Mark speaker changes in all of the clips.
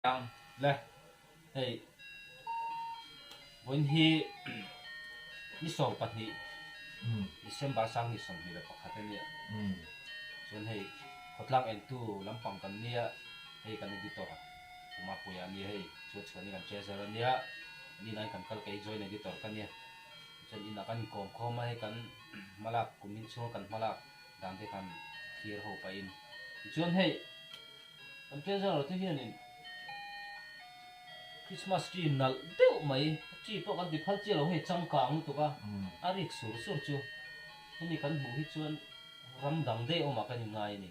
Speaker 1: Ang le hei vawiin hi ni sawm pahnih December sang ni sawm hnih leh pakhat a nia chuan hei khawtlang entu lampang kan nia hei kan editor Umapuia a nia hei chu a chhuahna hi kan che zel a nia ni na in kan kal kei joint editor ka nia chuan inah kan inkawm khawm a hei kan hmalak kum inchhung a kan hmalak. dan te khan thlir ho pahin tichuan hei kan tirhzara te hianin Christmas tree nalh deuh mai a tree pawh kan ti phal chiah lo hei changkang lutuk a a rik sur sur chu hemi kan hmuh hi chuan ram dang deuh awmah kan in ngai a ni.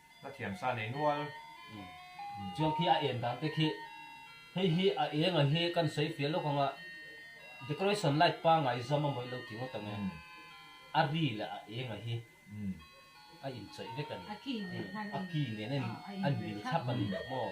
Speaker 1: Ka thiam sa nei nual. Chiang khi a en dan te khi hei hi a enga hi kan sawi fiah lawk ang a, decoration light pangai zam a mawih lo ti ngawt ang e, a ri leh a enga hi a inchawih vek a ni, a ki nen a inbil thlap a ni maw?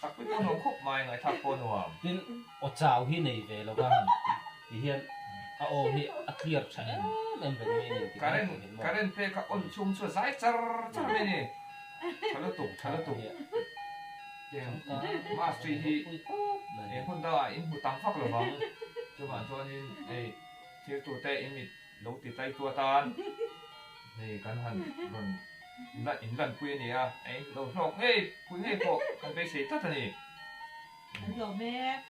Speaker 1: Sakpui pawh nuam khawp mai, ngaithak pawh nuam. Tin, aw chau hi nei ve lo va, ti hian a aw hi a clear tha em em reng mai nen ti mai thin maw? Current pek a on chhung chu a zai char char mai ni. Tha lutuk, tha lutuk. Heng Mastery hi eng hun dangah in hmu tam vak lo vang. Chuvang chuanin hei thirtute in mit. Lo ti tlai tu atan hei kan han rawn la in lan pui a nia. Lo hlawk ngei pui ngei pawh kan beisei tlat a ni. Kan hlawh mek.